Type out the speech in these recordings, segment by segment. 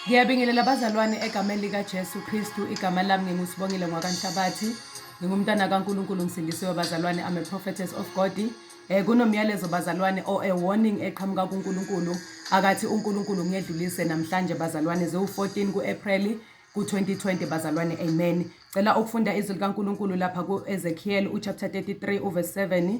ngiyabingelela abazalwane egameni likajesu kristu igama lami ngingusibongile ngwakanhlabathi ngingumntana kankulunkulu ngisindisiwe bazalwane i'm a prophetess of god um kunomyalezo bazalwane or a warning eqhamuka kunkulunkulu akathi unkulunkulu ngiyedlulise namhlanje bazalwane ziwu-14 ku-apreli ku-2020 bazalwane amen cela ukufunda izwi likankulunkulu lapha ku-ezekiel uchapter 33 uverse 7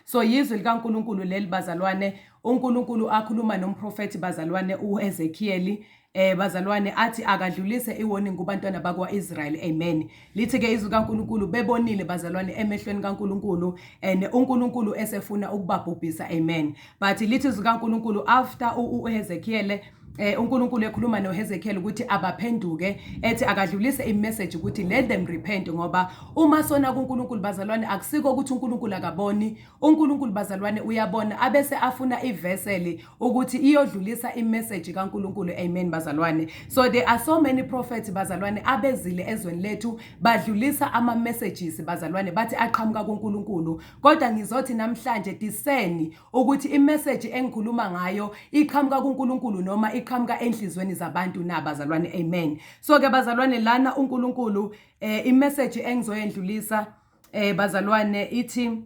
So yizwi likaNkulunkulu leli bazalwane, uNkulunkulu akhuluma nomprofethi bazalwane uEzekiyeli eh bazalwane athi akadlulise iwarning kubantwana bakwaIsrael amen lithi ke izwi kaNkuluNkulu bebonile bazalwane emehlweni kaNkuluNkulu and uNkuluNkulu esefuna ukubabhubhisa amen but lithi izwi kaNkuluNkulu after uEzekiel eh uNkulunkulu ekhuluma noHezekiel ukuthi abaphenduke ethi akadlulise imessage ukuthi let them repent ngoba uma sona kuNkulunkulu bazalwane akusiko ukuthi uNkulunkulu akaboni uNkulunkulu bazalwane uyabona abese afuna iveseli ukuthi iyodlulisa imessage kaNkulunkulu amen bazalwane so there are so many prophets bazalwane abezile ezweni lethu badlulisa ama messages bazalwane bathi aqhamuka kuNkulunkulu kodwa ngizothi namhlanje discerni ukuthi imeseji engikhuluma ngayo iqhamuka kuNkulunkulu noma iqhamuka enhlizweni zabantu na bazalwane amen so ke bazalwane lana uNkulunkulu eh imeseji engizoyendlulisa eh bazalwane ithi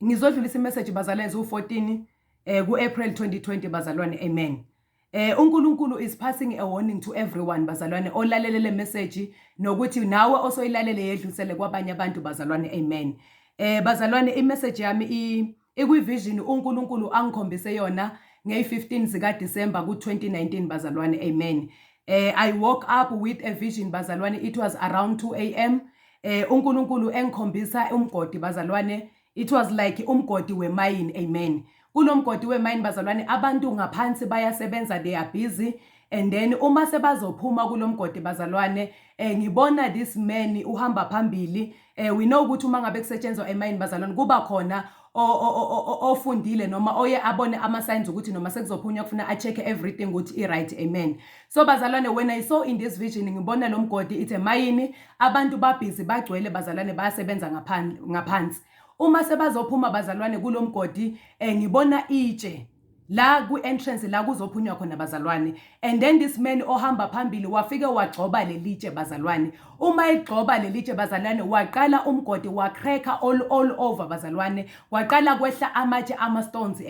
ngizodlulisa imeseji bazalwane zu14 eh ku-April 2020 bazalwane amen Eh uNkulunkulu is passing a warning to everyone bazalwane olalele le message nokuthi nawe osoyilalele yedlusele kwabanye abantu bazalwane amen. Eh bazalwane i message yami i ikwi vision uNkulunkulu angikhombise yona ngey 15 zika December ku 2019 bazalwane amen. Eh I woke up with a vision bazalwane it was around 2 am. Eh uNkulunkulu engikhombisa umgodi bazalwane It was like umgodi wemayini amen. Kunomgodi wemayini bazalwane abantu ngaphansi bayasebenza they are busy and then uma sebazophuma kulomgodi bazalwane eh ngibona this man uhamba phambili eh we know ukuthi uma ngabe kusetshenzwa emayini bazalwane kuba khona ofundile noma oye abone ama signs ukuthi noma sekuzophunywa kufuna a check everything ukuthi i right amen So bazalwane when I saw in this vision ngibona lo mgodi ithe mayini abantu babhizi bagcwele bazalwane bayasebenza ngaphandle ngaphansi. Uma sebazophuma bazalwane kulo mgodi eh, ngibona itshe la ku-entrance la kuzophunywa khona bazalwane and then this man ohamba phambili wafike wagxoba lelitshe bazalwane uma egxoba lelitshe bazalwane waqala umgodi wacracker all, all over bazalwane kwaqala kwehla amatshe ama-stones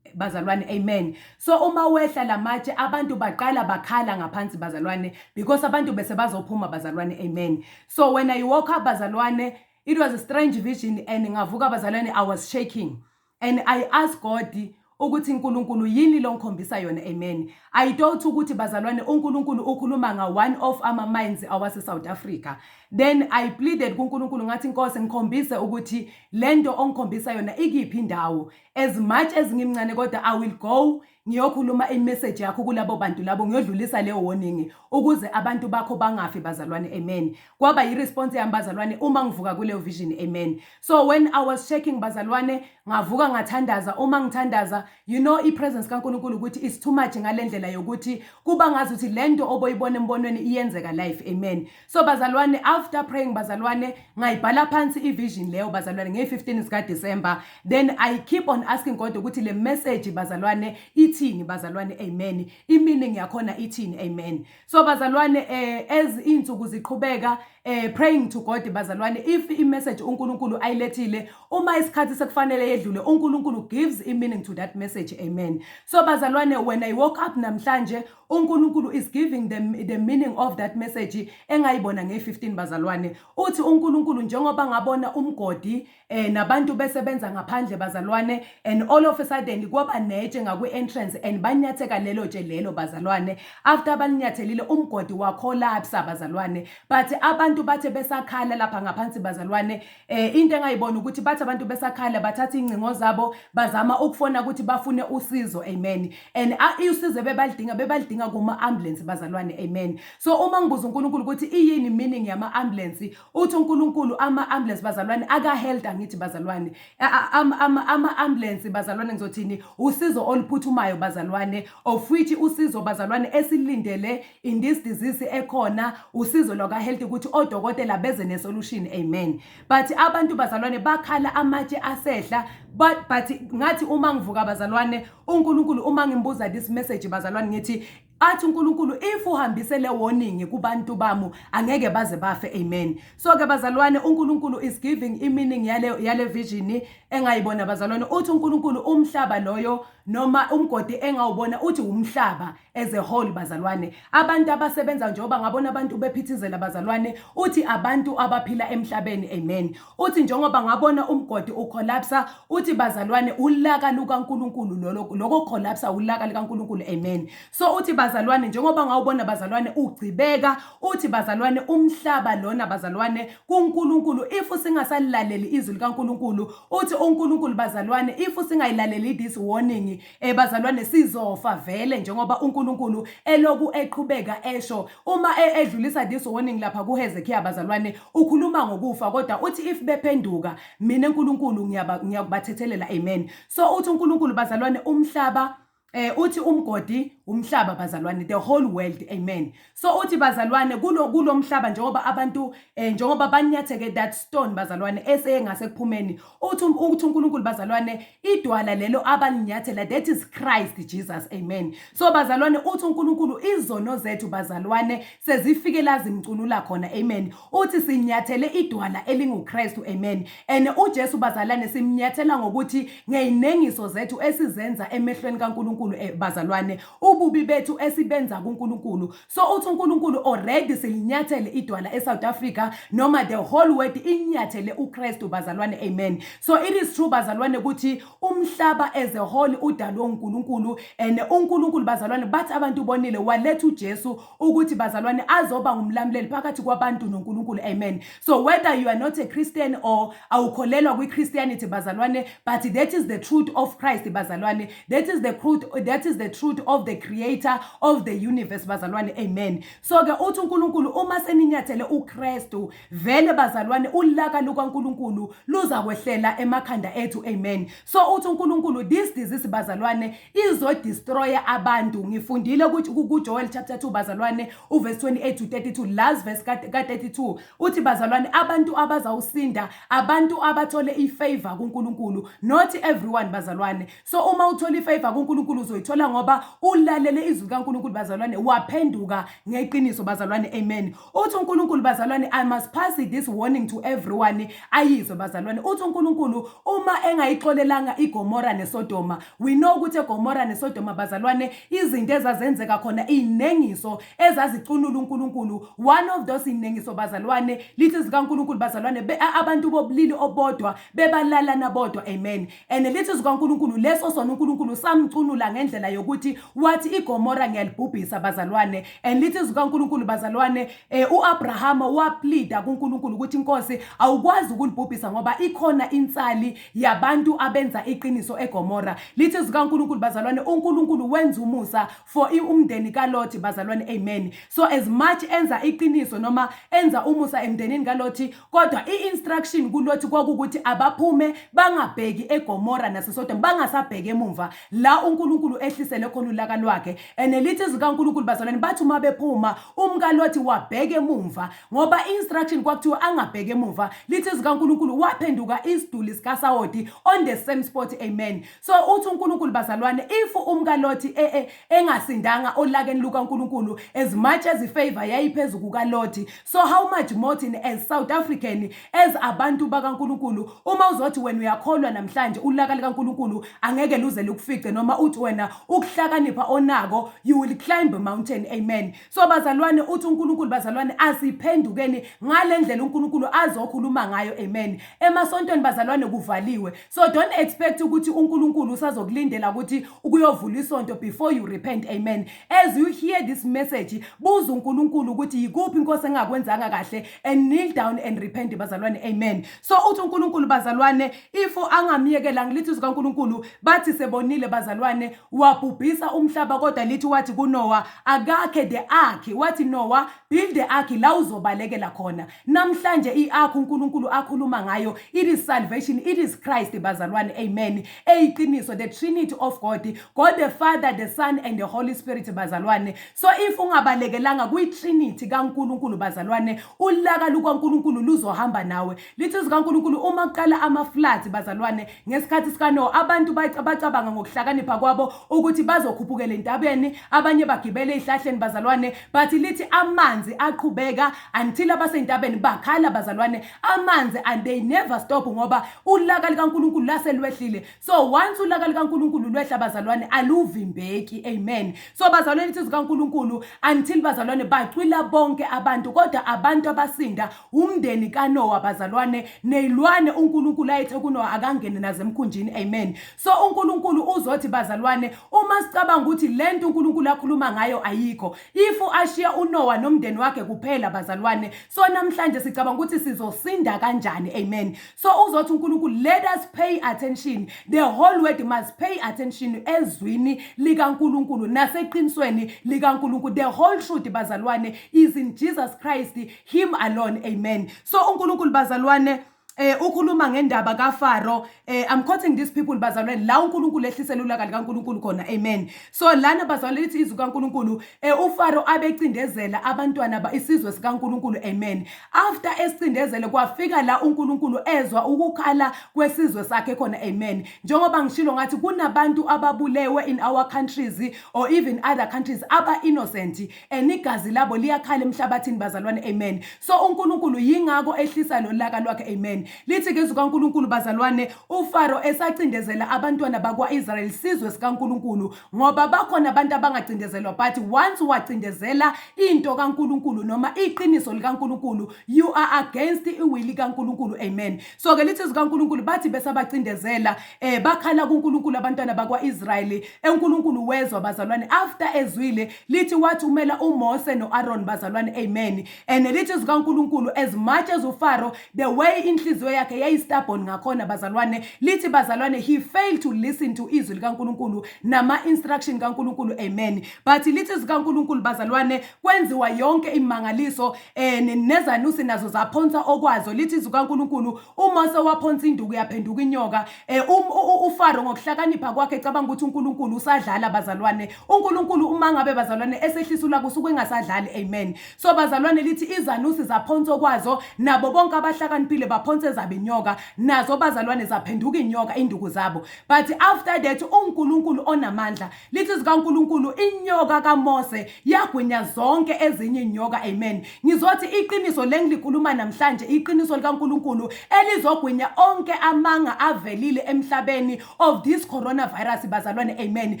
bazalwane amen So uma wehla lamatshe abantu baqala bakhala ngaphansi bazalwane because abantu bese bazophuma bazalwane amen. So when I woke up bazalwane it was a strange vision and ngavuka bazalwane I was shaking and I asked God ukuthi uNkulunkulu yini lo ngikhombisa yona amen. I thought ukuthi bazalwane uNkulunkulu ukhuluma nga one of ama mines awase South Africa. Then I pleaded kuNkulunkulu ngathi Nkosi ngikhombise ukuthi lento ongikhombisa yona ikiphi indawo. as much as ngimncane kodwa i will go ngiyokhuluma imessage yakho kulabo bantu labo ngiyodlulisa le warning ukuze abantu bakho bangafi bazalwane amen kwaba yiresponse yami bazalwane uma ngivuka kuleyo vision amen so when i was checking bazalwane ngavuka ngathandaza uma ngithandaza you know ipresence kaNkuluNkulu ukuthi is too much ngalendlela yokuthi kuba ngazi ukuthi lento oboyibona embonweni iyenzeka life amen so bazalwane after praying bazalwane ngayibhala phansi ivision leyo bazalwane ngey-15 zikadisemba then i keep on asking god ukuthi le message bazalwane ithini bazalwane amen i-meaning yakhona ithini amen so bazalwane eh, as iy'nsuku ziqhubeka eh, praying to god bazalwane if i-message unkulunkulu ayilethile uma isikhathi sekufanele yedlule unkulunkulu gives i-meaning to that message amen so bazalwane when i woke up namhlanje UNkulunkulu is giving the, the meaning of that message engayibona ngeyi-15 bazalwane uthi uNkulunkulu njengoba ngabona umgodi eh, nabantu besebenza ngaphandle bazalwane and all of a sudden kwaba netshe ngakwi-entrance and banyatheka lelo tshe lelo bazalwane after balinyathelile umgodi wakholapsa bazalwane but abantu bathe besakhala lapha ngaphansi bazalwane Eh into engayibona ukuthi bathi abantu besakhala bathatha ingcingo zabo bazama ukufona ukuthi bafune usizo amen and usizo bebalidinga bebalidinga kuma ambulance bazalwane amen so uma ngibuza uNkulunkulu ukuthi iyini meaning yama ambulance uthi uNkulunkulu ama ambulance bazalwane aka health angithi bazalwane ama ambulance bazalwane ngizothini usizo oluphuthumayo bazalwane of which usizo bazalwane esilindele in this disease ekhona usizo lwaka health ukuthi odokotela beze ne solution amen but abantu bazalwane bakhala amatshe asehla but but ngathi uma ngivuka bazalwane uNkulunkulu uma ngimbuza this message bazalwane ngithi athi uNkulunkulu if uhambise le warning kubantu bamu angeke baze bafe amen so ke bazalwane uNkulunkulu is giving i meaning yale yale vision engayibona bazalwane uthi uNkulunkulu umhlaba loyo noma umgodi engawubona uthi umhlaba as a whole bazalwane abantu abasebenza njengoba ngabona abantu bephithizela bazalwane uthi abantu abaphila emhlabeni amen uthi njengoba ngabona umgodi ucollapsa uthi bazalwane ulaka lukaNkuluNkulu lolo lokho collapsa ulaka likaNkuluNkulu amen so uthi bazalwane njengoba ngawubona bazalwane ugcibeka uthi bazalwane umhlaba lona bazalwane kuNkuluNkulu if singasalilaleli izwi likaNkuluNkulu uthi uNkuluNkulu bazalwane if singayilaleli this warning Eh bazalwane sizofa vele njengoba uNkulunkulu eloku eqhubeka esho uma e- edlulisa this warning lapha kuHezekiya bazalwane ukhuluma ngokufa kodwa uthi if bephenduka mina uNkulunkulu ngiyaba- ngiyakubathethelela amen so uthi uNkulunkulu bazalwane umhlaba eh uthi umgodi umhlaba bazalwane the whole world amen So uthi bazalwane kulo kulomhlaba njengoba abantu eh, njengoba banyatheke that stone bazalwane eseyengase kuphumeni uthi um, uthi uNkulunkulu bazalwane idwala lelo abalinyathela that is Christ Jesus amen so bazalwane uthi uNkulunkulu izono zethu bazalwane sezifike lazimcunula khona amen uthi sinyathele idwala elinguKristu amen and uJesu bazalwane simnyathela ngokuthi ngeyinengiso zethu esizenza emehlweni kaNkulunkulu eh, bazalwane ububi bethu esibenza kuNkulunkulu so uthi uNkulunkulu already silinyathele idwala eSouth Africa noma the whole world inyathele uKristu bazalwane amen so it is true bazalwane ukuthi umhlaba as a whole udalwe uNkulunkulu and uNkulunkulu bazalwane bathi abantu bonile waletha uJesu ukuthi bazalwane azoba ngumlamuleli phakathi kwabantu noNkulunkulu amen so whether you are not a christian or awukholelwa kwi-christianity bazalwane but that is the truth of christ bazalwane that is the truth, that is the truth of the creator of the universe bazalwane amen so-ke uthi unkulunkulu uma seninyathele ukristu vele bazalwane ulaka lukankulunkulu luzakwehlela emakhanda ethu amen so uthi uNkulunkulu this disease bazalwane izo destroy abantu ngifundile ukuthi ku Joel chapter 2 bazalwane u verse 28 to 32 last verse ka 32 uthi bazalwane abantu abazawusinda abantu abathole i favor kuNkulunkulu not everyone bazalwane so uma uthola i favor kuNkulunkulu uzoyithola ngoba ulalele izwi kaNkulunkulu bazalwane waphenduka ngeqiniso bazalwane amen uthi uNkulunkulu bazalwane i must pass this warning to everyone ayizwe bazalwane uthi uNkulunkulu uma engayixolelanga iGomora neSodoma we know ukuthi eGomora neSodoma bazalwane izinto ezazenzeka khona inengiso ezazicunula uNkulunkulu one of those inengiso bazalwane lithi zikaNkulunkulu bazalwane abantu bobulili obodwa bebalalana bodwa amen and lithi zikaNkulunkulu leso sona uNkulunkulu samcunula ngendlela yokuthi wathi iGomora ngiyalibhubhisa bazalwane and lithi zikaNkulunkulu bazalwane eh, uAbrahama waplida kuNkulunkulu ukuthi inkosi awukwazi ukulibhubhisa ngoba ikhona insali yabantu abenza iqiniso eGomora lithi zikaNkulunkulu bazalwane uNkulunkulu wenza umusa for umndeni kaLothi bazalwane amen so as much enza iqiniso noma enza umusa emndenini kaLothi kodwa i-instruction kulothi kwakukuthi abaphume bangabheki egomora nasesodom bangasabheki emumva la unkulunkulu ehlisele khona ulaka lwakhe and lithi zikankulunkulu bazalwane bathi uma bephuma umkalothi wabheke emumva ngoba i-instruction kwakuthiwa angabheki emumva lithi zikankulunkulu waphenduka isiduli sikasawoti on the same spot amen So uthi uNkulunkulu bazalwane if umkaLothi e, e, engasindanga olakeni lukaNkulunkulu as much as ifavor yayiphezulu kukaLothi so how much more thina as South African as abantu bakaNkulunkulu uma uzothi wena uyakholwa namhlanje ulaka likaNkulunkulu angeke luze lukufice noma uthi wena ukuhlakanipha onako you will climb a mountain amen so bazalwane uthi uNkulunkulu bazalwane asiphendukeni ngalendlela uNkulunkulu azokhuluma ngayo amen emasontweni bazalwane kuvaliwe So don't expect ukuthi uNkulunkulu usazokulindela ukuthi ukuyovula isonto before you repent. Amen. As you hear this message, buza uNkulunkulu ukuthi yikuphi inkosi engakwenzanga kahle and kneel down and repent bazalwane. Amen. So uthi uNkulunkulu bazalwane if angamyekela ngilithi izwi kaNkulunkulu bathi sebonile bazalwane wabhubhisa umhlaba kodwa lithi wathi kuNoah akakhe the ark wathi Noah build the ark la uzobalekela khona. Namhlanje iakho uNkulunkulu akhuluma ngayo it is salvation it is Christ bazalwane amen eyiqiniso the trinity of God God the Father the Son and the Holy Spirit bazalwane so if ungabalekelanga kwi trinity kaNkulunkulu bazalwane ulaka lukaNkulunkulu luzohamba nawe lithi zikaNkulunkulu uma kuqala ama floods bazalwane Ngesikhathi sikaNowa abantu bacabanga ngokuhlakanipha kwabo ukuthi bazokhuphukela entabeni, abanye bagibele ezihlahleni bazalwane, but lithi amanzi aqhubeka until abasentabeni bakhala bazalwane, amanzi and they never stop ngoba ulaka likaNkulunkulu lase lwehlile. So once ulaka likaNkulunkulu lwehla bazalwane aluvimbeki. Amen. So bazalwane lithi zikaNkulunkulu until bazalwane bacwila bonke abantu kodwa abantu abasinda Umndeni kaNowa bazalwane neyilwane uNkulunkulu ayethe kuNowa akangene nazo emkhunjini amen so uNkulunkulu uzothi bazalwane uma sicabanga ukuthi lento uNkulunkulu akhuluma ngayo ayikho if ashiya uNowa nomndeni wakhe kuphela bazalwane so namhlanje sicabanga ukuthi sizosinda kanjani amen so uzothi uNkulunkulu let us pay attention the whole world must pay attention ezwini likaNkulunkulu naseqinisweni likaNkulunkulu the whole truth bazalwane is in Jesus Christ him alone amen so unkulunkulu bazalwane eh ukhuluma ngendaba kaFaro eh I'm quoting these people bazalwane la uNkulunkulu ehlisela ulaka likaNkulunkulu khona amen so lana bazalwane lithi izwi kaNkulunkulu eh uFaro abecindezela abantwana ba isizwe sikaNkulunkulu amen after esicindezele kwafika la uNkulunkulu ezwa ukukhala kwesizwe sakhe khona amen njengoba ngishilo ngathi kunabantu ababulewe in our countries or even other countries aba innocent and igazi labo liyakhala emhlabathini bazalwane amen so uNkulunkulu yingakho ehlisa lolaka lwakhe amen lithi ngezwi kaNkulunkulu bazalwane uFaro esacindezela abantwana bakwaIsrael sizwe sikaNkulunkulu ngoba bakhona abantu abangacindezelwa but once wacindezela into kaNkulunkulu noma iqiniso likaNkulunkulu you are against iwili kaNkulunkulu amen so ke lithi zikaNkulunkulu bathi besabacindezela eh bakhala kuNkulunkulu abantwana bakwaIsrael eNkulunkulu wezwa bazalwane after ezwile Lithi wathi umela uMose noAron bazalwane amen and lithi zikaNkulunkulu as much as uFaro the way inhliziyo yakhe yayistubborn ngakhona bazalwane lithi bazalwane he failed to listen to izwi likaNkulunkulu nama instruction kaNkulunkulu amen but lithi zikaNkulunkulu bazalwane kwenziwa yonke imangaliso and nezanusi nazo zaphonsa okwazo lithi zikaNkulunkulu uMose waphonsa induku yaphenduka inyoka Eh, um, ufaro ngokuhlakanipha kwakhe cabanga ukuthi unkulunkulu usadlala bazalwane unkulunkulu uma ngabe bazalwane esehlisa ulaka usuke engasadlali amen so bazalwane lithi izanusi zaphonsa okwazo nabo bonke abahlakaniphile baphonsa ezabe inyoka nazo bazalwane zaphenduka inyoka induku zabo but after that unkulunkulu onamandla lithi zikaNkulunkulu inyoka kaMose yagwinya zonke ezinye inyoka amen ngizothi iqiniso lengilikhuluma namhlanje iqiniso likaNkulunkulu elizogwinya onke amanga avelile emhlabeni of this coronavirus bazalwane amen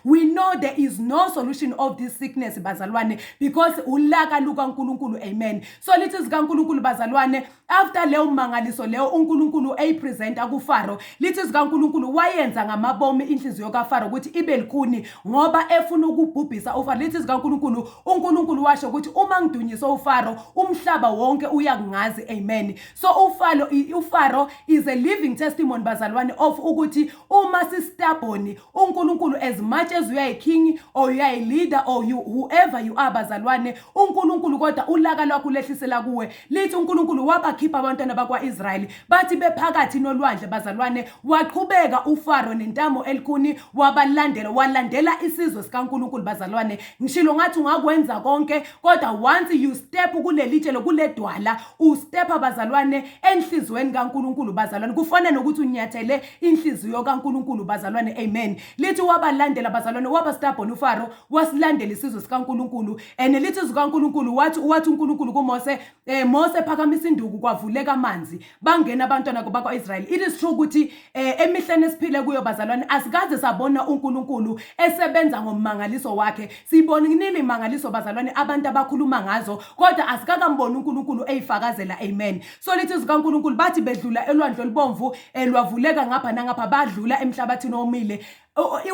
we know there is no solution of this sickness bazalwane because ulaka lukaNkulunkulu amen so lithi zikaNkulunkulu bazalwane after leyo mangaliso leyo uNkulunkulu eyipresenta kuFaro lithi zikaNkulunkulu wayenza ngamabomu inhliziyo kaFaro ukuthi ibe likhuni ngoba efuna ukubhubhisa uFaro lithi zikaNkulunkulu uNkulunkulu washo ukuthi uma ngidunyise uFaro umhlaba wonke uyakungazi amen so uFaro uFaro is a living testimony bazalwane of ukuthi uma sistubborn uNkulunkulu as much as uyayiking or uyayileader or you, whoever you are bazalwane uNkulunkulu kodwa ulaka lwakho lehlisela kuwe lithi uNkulunkulu wabakhipha abantwana bakwaIsrayeli bathi bephakathi nolwandle bazalwane waqhubeka uFaro nentamo elikhuni wabalandela walandela isizwe sikaNkulunkulu bazalwane ngishilo ngathi ungakwenza konke kodwa once you step kulelitshelo kuledwala ustep abazalwane enhlizweni kaNkulunkulu bazalwane kufana nokuthi unyathele inhliziyo kaNkulunkulu bazalwane amen lithi wabalandela bazalwane waba stubborn uFaro wasilandela isizwe sikaNkulunkulu and lithi izwi kaNkulunkulu wathi wathi uNkulunkulu kuMose eh Mose phakamisa induku kwavuleka amanzi bangena abantwana bakwaIsrael it is true ukuthi eh, emihleni esiphile kuyo bazalwane asikaze sabona uNkulunkulu esebenza ngomangaliso wakhe sibona kunini imangaliso bazalwane abantu abakhuluma ngazo kodwa asikakamboni uNkulunkulu eyifakazela amen Solithi zikaNkulunkulu bathi bedlula elwandle olubomvu eh, lwavuleka ngapha nangapha badlula emhlabathini omile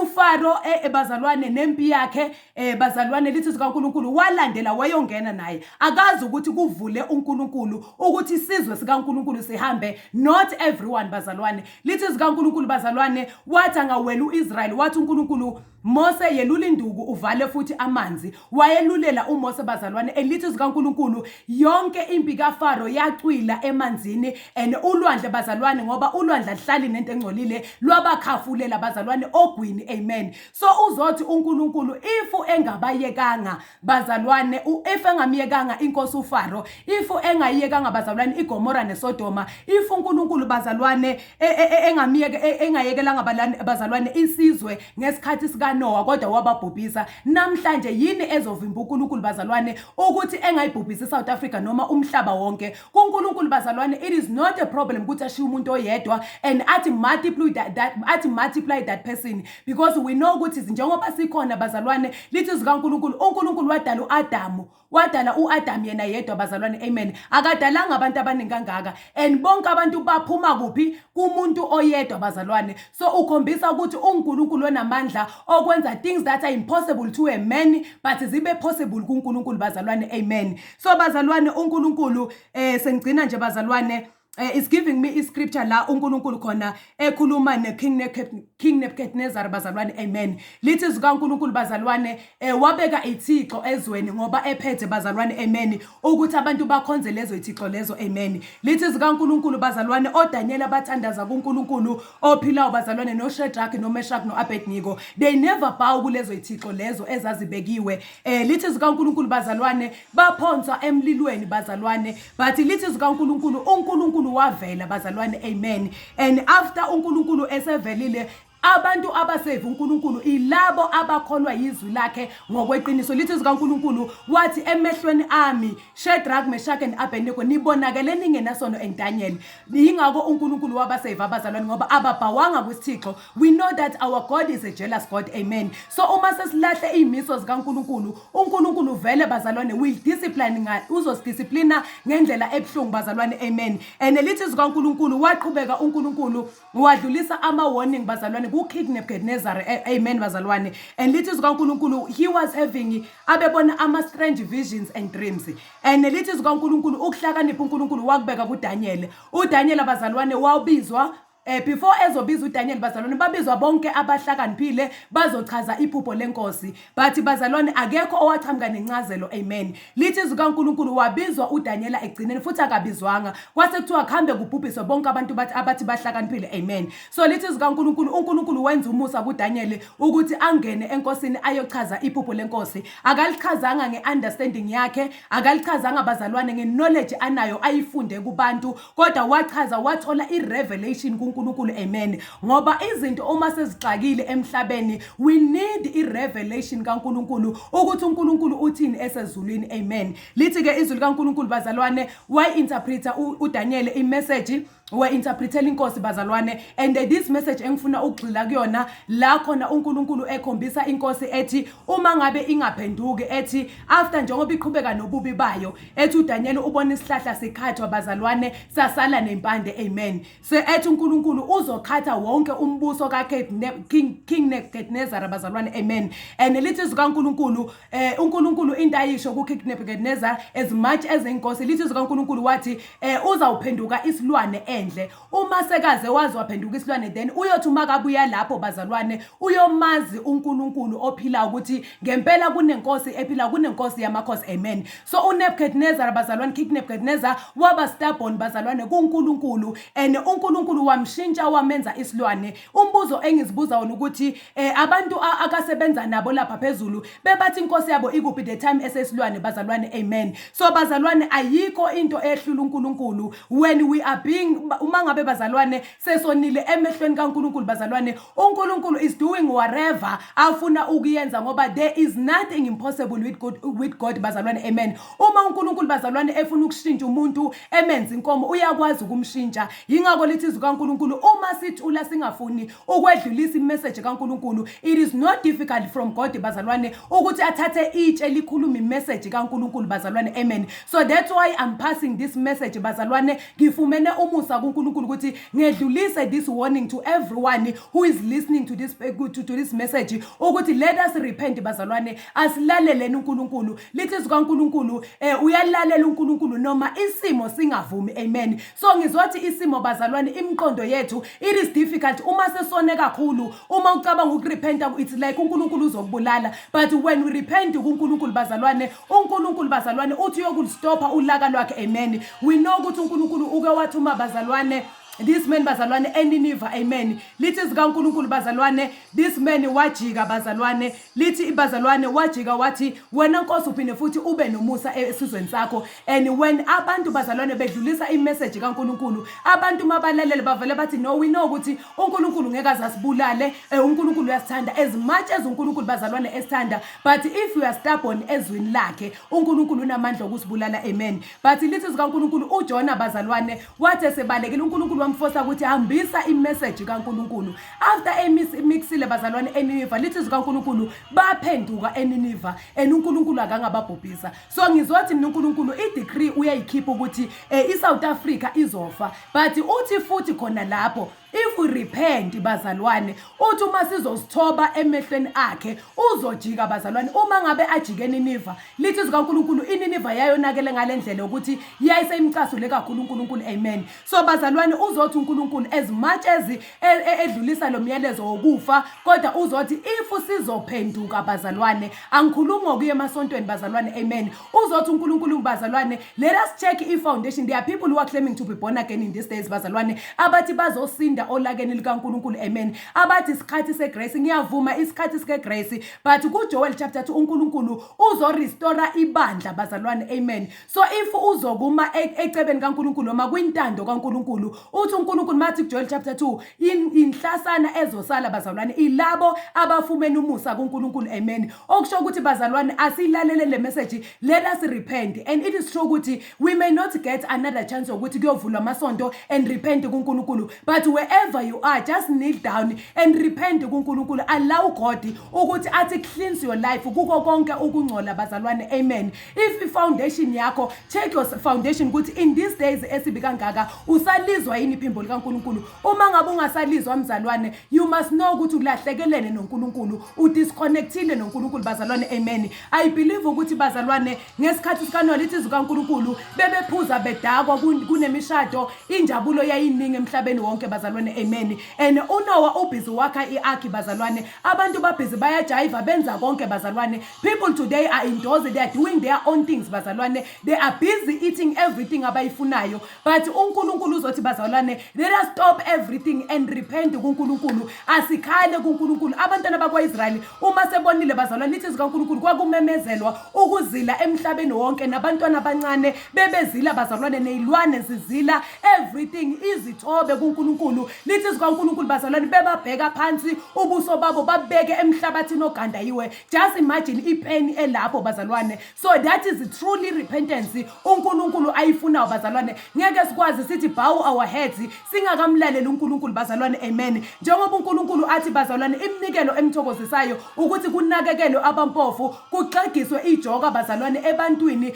ufaro e, e, bazalwane nempi yakhe e, bazalwane lithi zikaNkulunkulu walandela wayongena naye akazi ukuthi kuvule uNkulunkulu ukuthi isizwe sikaNkulunkulu sihambe not everyone bazalwane lithi zikaNkulunkulu bazalwane wathi angawela uIsrael wathi uNkulunkulu Mose yelula induku uvale futhi amanzi. Wayelulela uMose bazalwane elithi zikaNkulunkulu yonke impi kaFaro yacwila emanzini and ulwandle bazalwane ngoba ulwandle ahlali nento engcolile lwabakhafulela bazalwane ogwini amen. So uzothi uNkulunkulu if engabayekanga bazalwane if engamyekanga inkosi uFaro if engayiyekanga bazalwane iGomora neSodoma if uNkulunkulu bazalwane e, e, e, engamyeke engayekelanga bazalwane isizwe ngesikhathi sikaNowa kodwa wababhubhisa namhlanje yini ezovimba uNkulunkulu bazalwane ukuthi engayibhubhisi iSouth Africa noma umhlaba wonke kuNkulunkulu bazalwane it is not a problem ukuthi ashiye umuntu oyedwa and athi multiply that, that athi multiply that person because we know ukuthi njengoba sikhona bazalwane lithi zikaNkulunkulu uNkulunkulu wadala uAdamu wadala uAdam yena yedwa bazalwane amen akadalanga abantu abaningi kangaka and bonke abantu baphuma kuphi kumuntu oyedwa bazalwane so ukhombisa ukuthi uNkulunkulu onamandla okwenza things that are impossible to a man but zibe possible kuNkulunkulu bazalwane amen so bazalwane uNkulunkulu eh sengigcina nje bazalwane Uh, is giving me iscripture la uNkulunkulu khona ekhuluma neKing King Nebuchadnezzar bazalwane amen lithi zikaNkulunkulu bazalwane eh, wabeka ithixo ezweni ngoba ephethe bazalwane amen ukuthi abantu bakhonze lezo ithixo lezo amen lithi zikaNkulunkulu bazalwane oDaniela bathandaza kuNkulunkulu ophilayo bazalwane noShadrach noMeshach noAbednego they never bow kulezo ithixo lezo ezazibekiwe Eh lithi zikaNkuluNkulu bazalwane baphonswa emlilweni bazalwane but lithi zikaNkuluNkulu uNkuluNkulu wavela bazalwane amen and after uNkuluNkulu esevelile abantu abasave uNkulunkulu ilabo abakholwa yizwi lakhe ngokweqiniso lithi zikaNkulunkulu wathi emehlweni ami Shadrach Meshach and Abednego nibonakele ningenasono and Daniel yingakho uNkulunkulu wabasave abazalwane ngoba ababhawanga kwisithixo We know that our God is a jealous God. Amen. So uma sesilahle izimiso zikaNkuluNkulu, uNkuluNkulu vele bazalwane will discipline nga uzosidissiplina ngendlela ebuhlungu bazalwane. Amen. And lithi zikaNkuluNkulu waqhubeka uNkuluNkulu wadlulisa ama warning bazalwane ku King Nebuchadnezzar. Amen bazalwane. And lithi zikaNkuluNkulu he was having abebona ama strange visions and dreams. And lithi zikaNkuluNkulu ukuhlakanipha uNkuluNkulu wakubeka kuDaniel. UDaniel abazalwane wawubizwa Eh, before ezobiza uDaniel bazalwane babizwa bonke abahlakaniphile bazochaza iphupho lenkosi but bazalwane akekho owaqhamuka nencazelo amen lithi izwi kaNkulunkulu wabizwa uDaniela ekugcineni futhi akabizwanga kwase kuthiwa kuhambe kubhubhiswe bonke abantu bathi abathi bahlakaniphile amen so lithi izwi kaNkulunkulu uNkulunkulu wenza umusa kuDaniel ukuthi angene enkosini ayochaza iphupho lenkosi akalichazanga ngeunderstanding yakhe akalichazanga bazalwane ngeknowledge anayo ayifunde kubantu kodwa wachaza wathola i-revelation kuNkulunkulu amen ngoba izinto uma sezixakile emhlabeni we need i-revelation kaNkulunkulu ukuthi uNkulunkulu uthini esezulwini amen lithi-ke izwi likaNkulunkulu bazalwane wayi-interpreter uDaniyeli imeseji wa-interpretela inkosi bazalwane and this message engifuna ukugxila kuyona la khona uNkulunkulu ekhombisa inkosi ethi uma ngabe ingaphenduki ethi after njengoba iqhubeka nobubi bayo ethi uDaniel ubona isihlahla sikhathwa bazalwane sasala nempande amen so ethi uNkulunkulu uzokhatha wonke umbuso ka King King Nebuchadnezzar bazalwane amen and lithi zikaNkulunkulu eh uNkulunkulu into ayisho ku King Nebuchadnezzar as much as inkosi lithi zikaNkulunkulu wathi eh uzawuphenduka isilwane endle Uma sekaze wazi waphenduka isilwane then uyothi uma kabuya lapho bazalwane uyomazi uNkulunkulu ophilayo ukuthi ngempela kunenkosi ephilayo kunenkosi yamakhosi amen so uNebuchadnezzar bazalwane King Nebuchadnezzar waba stubborn bazalwane kuNkulunkulu and uNkulunkulu wamshintsha wamenza isilwane Umbuzo engizibuza wona ukuthi eh, abantu a- akasebenza nabo lapha phezulu bebathi inkosi yabo ikuphi the time esesilwane bazalwane amen so bazalwane ayikho into ehlula uNkulunkulu when we are being ba- uma ngabe bazalwane sesonile emehlweni kaNkulunkulu bazalwane uNkulunkulu is doing whatever afuna ukuyenza ngoba there is nothing impossible with God, with God bazalwane amen uma uNkulunkulu bazalwane efuna ukushintsha umuntu emenza inkomo uyakwazi ukumshintsha Yingakho lithi izwi kaNkulunkulu uma sithula singafuni ukwedlulisa imeseji kaNkulunkulu it is not difficult from God bazalwane ukuthi athathe itshe likhulume imeseji kaNkulunkulu bazalwane amen so that's why I'm passing this message bazalwane ngifumene umusa kuNkulunkulu ukuthi ngedlulise this warning to everyone who is listening to this to, to this message ukuthi let us repent bazalwane asilaleleni uNkulunkulu lithi zikaNkulunkulu eh uyalalela uNkulunkulu noma isimo singavumi amen so ngizothi isimo bazalwane imiqondo yethu it is difficult uma sesone kakhulu uma ucabanga ukurepenta it's like uNkulunkulu uzokubulala but when we repent kuNkulunkulu bazalwane uNkulunkulu bazalwane uthi uyokulistopha ulaka lwakhe amen we know ukuthi uNkulunkulu uke wathuma bazalwane this man bazalwane eniniva amen lithi zikaNkuluNkulu bazalwane this man wajika bazalwane lithi ibazalwane wajika wathi wena Nkosi uphinde futhi ube nomusa e-, esizweni sakho and when abantu bazalwane bedlulisa imessage kaNkuluNkulu abantu mabalalele bavele bathi no we know ukuthi uNkuluNkulu ngeke azasibulale eh, uNkuluNkulu uyasithanda as much as uNkuluNkulu bazalwane esithanda but if you are stubborn ezwini lakhe uNkuluNkulu unamandla okusibulala amen But lithi zikaNkulunkulu uJona bazalwane wathi esebalekile uNkulunkulu wamfosa ukuthi hambisa imessage kaNkulunkulu. After emixile bazalwane eNiniva lithi zikaNkulunkulu baphenduka eNiniva and uNkulunkulu akangababhubhisa. So ngizothi mina uNkulunkulu i-decree uyayikhipha ukuthi eh, iSouth Africa izofa. But uthi futhi khona lapho If we repent bazalwane uthi uma sizosithoba emehlweni akhe uzojika bazalwane uma ngabe ajike Niniva lithi izwi kaNkulunkulu iNiniva yayonakele ngalendlela ukuthi yayiseyimcasule kakhulu uNkulunkulu amen so bazalwane uzothi uNkulunkulu as much as e, e, edlulisa lo myalezo wokufa kodwa uzothi if sizophenduka bazalwane angikhulumi ngokuya emasontweni bazalwane amen uzothi uNkulunkulu bazalwane Let us check i-foundation. There are people who are claiming to be born again in these days bazalwane abathi bazosinda olakeni likaNkulunkulu amen. Abathi isikhathi segrace ngiyavuma isikhathi sikegrace but kuJoel chapter 2 uNkulunkulu uzorestore ibandla bazalwane amen. So if uzokuma e- ecebeni kaNkulunkulu noma kwintando kaNkulunkulu uthi uNkulunkulu mathi kuJoel chapter 2 in- inhlasana ezosala bazalwane ilabo abafumene umusa kuNkulunkulu amen. Okusho ukuthi bazalwane asilalele le message let us repent and it is true ukuthi we may not get another chance yokuthi kuyovulwa amasonto and repent kuNkulunkulu but wherever you are just kneel down and repent kuNkulunkulu allow God ukuthi athi cleanse your life kuko konke ukungcola bazalwane amen if i foundation yakho check your foundation ukuthi in these days esibi kangaka usalizwa yini iphimbo likaNkulunkulu uma ngabe ungasalizwa mzalwane you must know ukuthi ulahlekelene noNkulunkulu udisconnectile noNkulunkulu bazalwane amen I believe ukuthi bazalwane ngesikhathi sikanolithi zikaNkulunkulu bebephuza bedakwa kun- kunemishado injabulo yayiningi emhlabeni wonke bazalwane amen and uNowa ubhizi wakha iarki bazalwane abantu babhizi bayajayiva benza konke bazalwane people today are indoors they are doing their own things bazalwane they are busy eating everything abayifunayo but uNkulunkulu uzothi bazalwane let us stop everything and repent kuNkulunkulu asikhale kuNkulunkulu abantwana bakwaIsrayeli uma sebonile bazalwane ithi zikaNkulunkulu kwakumemezelwa ukuzila emhlabeni wonke nabantwana abancane bebezila bazalwane nezilwane zizila everything izithobe kuNkulunkulu lithi zikaNkulunkulu bazalwane bebabheka phansi ubuso babo babeke emhlabathini ogandayiwe just imagine ipain elapho bazalwane so that is truly repentance uNkulunkulu ayifunayo bazalwane ngeke sikwazi sithi bow our heads singakamlaleli uNkulunkulu bazalwane amen njengoba uNkulunkulu athi bazalwane iminikelo emthokozisayo ukuthi kunakekelwe abampofu kuxegiswe ijoka bazalwane ebantwini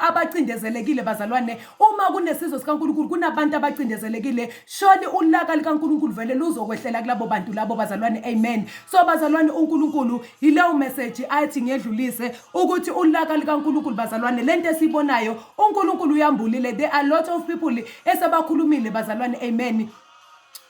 abacindezelekile bazalwane uma kunesizwe sikaNkulunkulu kunabantu abacindezelekile Shoni ulaka likaNkulunkulu vele luzokwehlela kulabo bantu labo bazalwane amen so bazalwane uNkulunkulu yileyo message athi ngedlulise ukuthi ulaka likaNkulunkulu bazalwane lento esibonayo uNkulunkulu uyambulile there are lot of people esebakhulumile bazalwane amen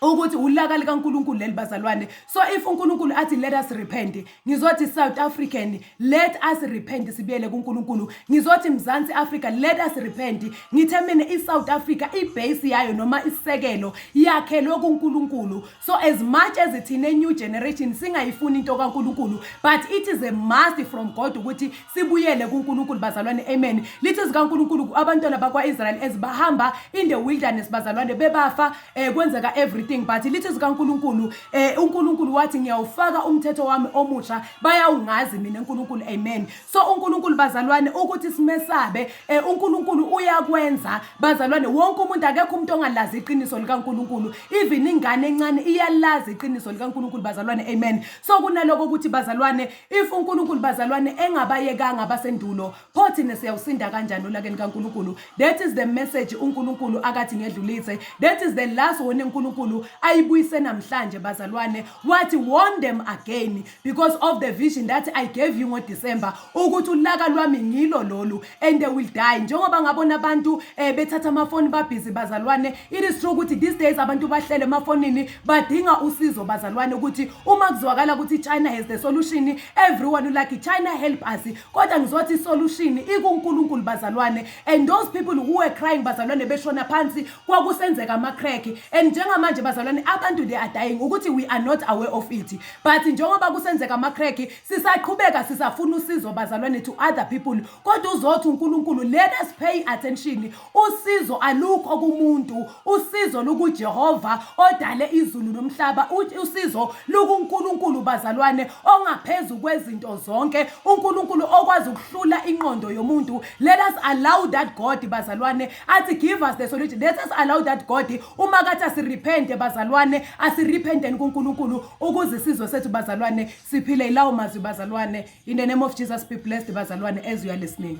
ukuthi ulaka likaNkulunkulu leli bazalwane so if uNkulunkulu athi let us repent Ngizothi South African let us repent sibuyele kuNkulunkulu. Ngizothi Mzansi Africa let us repent. Ngithe mina iSouth Africa ibase yayo noma isisekelo yakhelwe kuNkulunkulu. So as much as ithina new generation singayifuni into kaNkulunkulu but it is a must from God ukuthi sibuyele kuNkulunkulu bazalwane amen. Lithi zikaNkulunkulu abantwana bakwaIsrael ezibahamba in the wilderness bazalwane bebafa eh kwenzeka everything but lithi zikaNkuluNkulu eh uNkuluNkulu wathi ngiyawufaka umthetho wami omusha bayawungazi mina uNkuluNkulu amen so uNkuluNkulu bazalwane ukuthi simesabe eh uNkuluNkulu uyakwenza bazalwane wonke umuntu akekho umuntu ongalazi iqiniso likaNkuluNkulu even ingane encane iyalazi iqiniso likaNkuluNkulu bazalwane amen so kunaloko ukuthi bazalwane if uNkuluNkulu bazalwane engabayekanga abasendulo pho thina siyawusinda kanjani olakeni kaNkulunkulu that is the message uNkulunkulu akathi ngedlulise that is the last one uNkulunkulu ayibuyise namhlanje bazalwane wathi warn them again because of the vision that I gave you ngo December ukuthi ulaka lwami ngilo lolu and they will die njengoba ngabona abantu eh, bethatha amafoni babhizi bazalwane it is true ukuthi these days abantu bahlele emafonini badinga usizo bazalwane ukuthi uma kuzwakala ukuthi China has the solution everyone like China help us kodwa ngizothi isolution ikuNkulunkulu bazalwane and those people who were crying bazalwane beshona phansi kwakusenzeka ama-crack and njengamanje bazalwane abantu they are dying ukuthi we are not aware of it but njengoba kusenzeka ama-crack sisaqhubeka sisafuna usizo bazalwane to other people kodwa uzothi uNkulunkulu let us pay attention Usizo alukho kumuntu, usizo lukuJehova odale izulu nomhlaba. Usizo lukuNkulunkulu bazalwane ongaphezu kwezinto zonke, uNkulunkulu okwazi ukuhlula inqondo yomuntu. Let us allow that God bazalwane athi give us the solution. Let us allow that God uma kathi asirepente bazalwane, asirepenteni kuNkulunkulu ukuze isizwe sethu bazalwane siphile ilawo mazwi bazalwane. In the name of Jesus be blessed bazalwane as you are listening.